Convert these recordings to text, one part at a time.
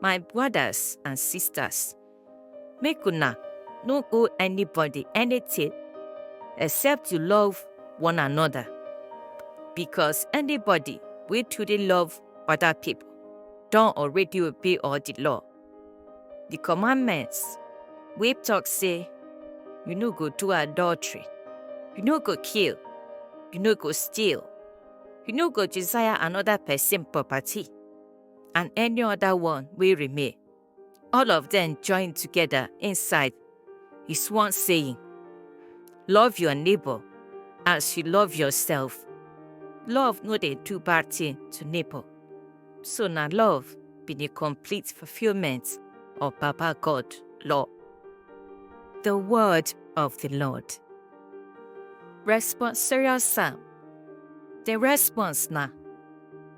My brothers and sisters, make una no owe anybody anything except you love one another. Because anybody wey truly love other people don already obey all the law. The commandments wey talk say you no go do adultery, you no go kill, you no go steal, you no go desire another person property, and any other one wey remain. All of them join together inside is one saying, Love your neighbor as you love yourself. Love no dey do bad thing to neighbor. So na love be the complete fulfillment of Baba God law. The word of the Lord. Responsorial Psalm. The response na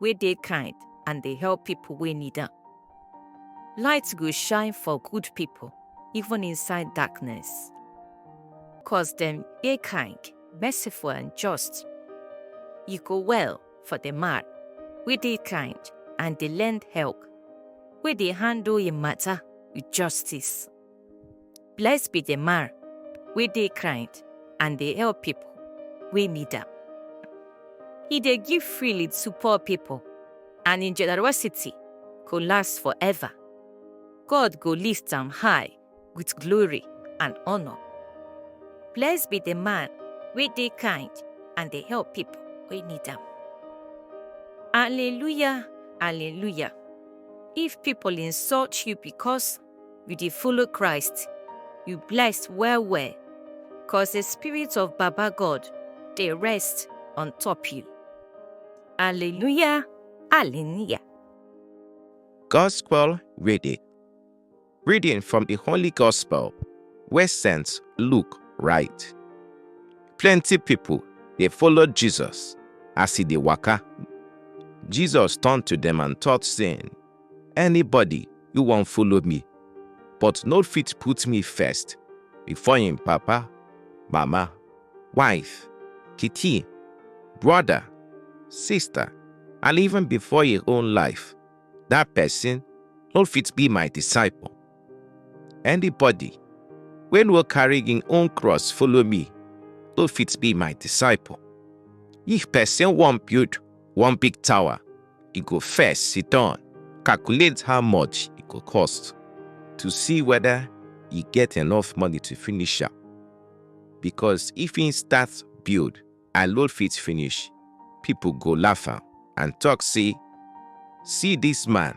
wey dey kind and dey help people wey need am. Light go shine for good people even inside darkness. Cause dem dey kind, merciful and just. E go well for the man wey dey kind and dey lend help, wey dey handle im matter with justice. Blessed be the man wey dey kind and dey help people wey need am. He dey give freely to poor people, and him generosity go last forever. God go lift am high with glory and honor. Blessed be the man wey dey kind and dey help people wey need am. Hallelujah, hallelujah. If people insult you because you dey follow Christ, you blessed well well, cause the spirit of Baba God dey rest on top you. Hallelujah, hallelujah. Gospel reading. Reading from the Holy Gospel, where Saint Luke write. Plenty people they followed Jesus as he dey waka. Jesus turned to them and taught, saying, Anybody you wan follow me, but no fit put me first before im papa, mama, wife, pikin, brother, sister, and even before im own life, that person no fit be my disciple. Anybody wey no carry im own cross follow me no fit be my disciple. If person wan build one big tower, e go first sit down, calculate how much e go cost to see whether e get enough money to finish am. Because if im start build and load fit finish, people go laugh am and talk say, See this man,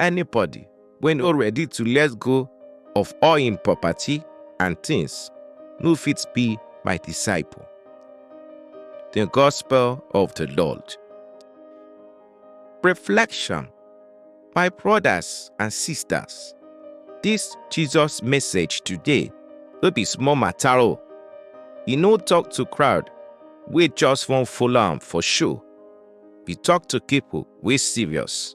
anybody wey no ready to let go of all im property and things no fit be my disciple. The Gospel of the Lord. Reflection My brothers and sisters, this Jesus message today no be small matter o. E no talk to crowd wey just wan follow am for show. E talk to people wey serious.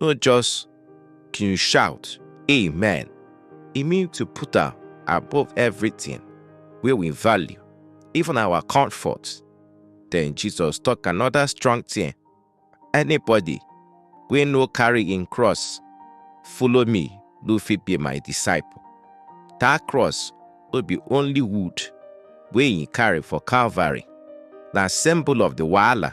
no just to shout amen e mean to put am above everything wey we value even our comfort then jesus talk another strong thing anybody wey no carry im cross follow me no fit be my disciple that cross no be only wood wey he carry for calvary na symbol of the wahala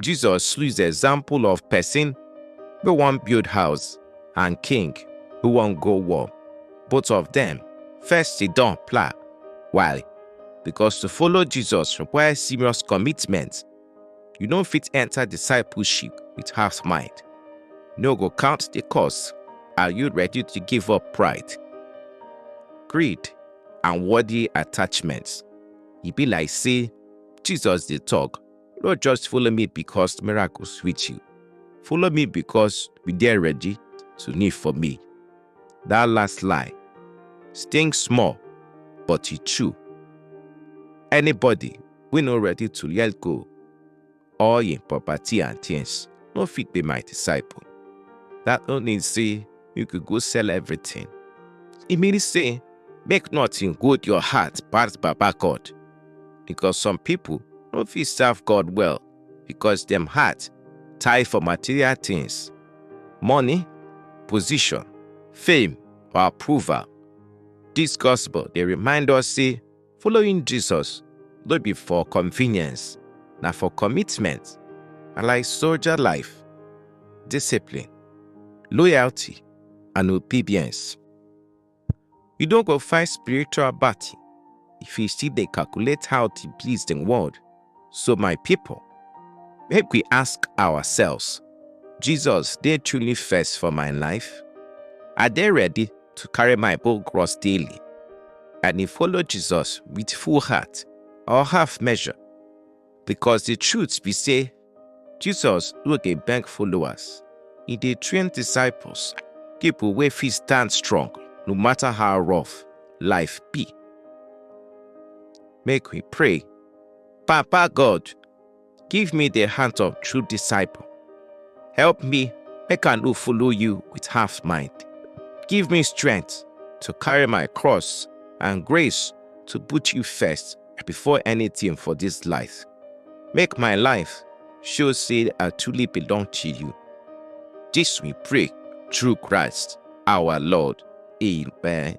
Jesus use example of person wey wan build house and king who wan go war. Both of them first sit down plan. Why? Because to follow Jesus require serious commitment. You no fit enter discipleship with half mind. No go count the cost. Are you ready to give up pride, greed, and worldly attachments? E be like say Jesus dey talk No just follow me because miracle sweet you. Follow me because we dey ready to need for me. That last lie sting small, but e true. Anybody wey no ready to let go all im property and things no fit be my disciple. That no mean say make you go sell everything. E mean say make nothing good your heart pass Baba God. Because some people no fit serve God well because dem heart tie for material things, money, position, fame or approval. This gospel dey remind us say Following Jesus no be for convenience, na for commitment. Na like soldier life, discipline, loyalty, and obedience. You no go fight spiritual battle if you still dey calculate how to please the world. So my people, make we ask ourselves, Jesus dey truly first for my life? I dey ready to carry my bowl cross daily and dey follow Jesus with full heart or half measure? Because the truth be say, Jesus no dey beg followers, e dey train disciples, people wey fit stand strong no matter how rough life be. Make we pray. Papa God, give me the heart of true disciple. Help me make I no follow you with half mind. Give me strength to carry my cross and grace to put you first before anything for this life. Make my life show say I truly belong to you. This we pray through Christ our Lord. Amen.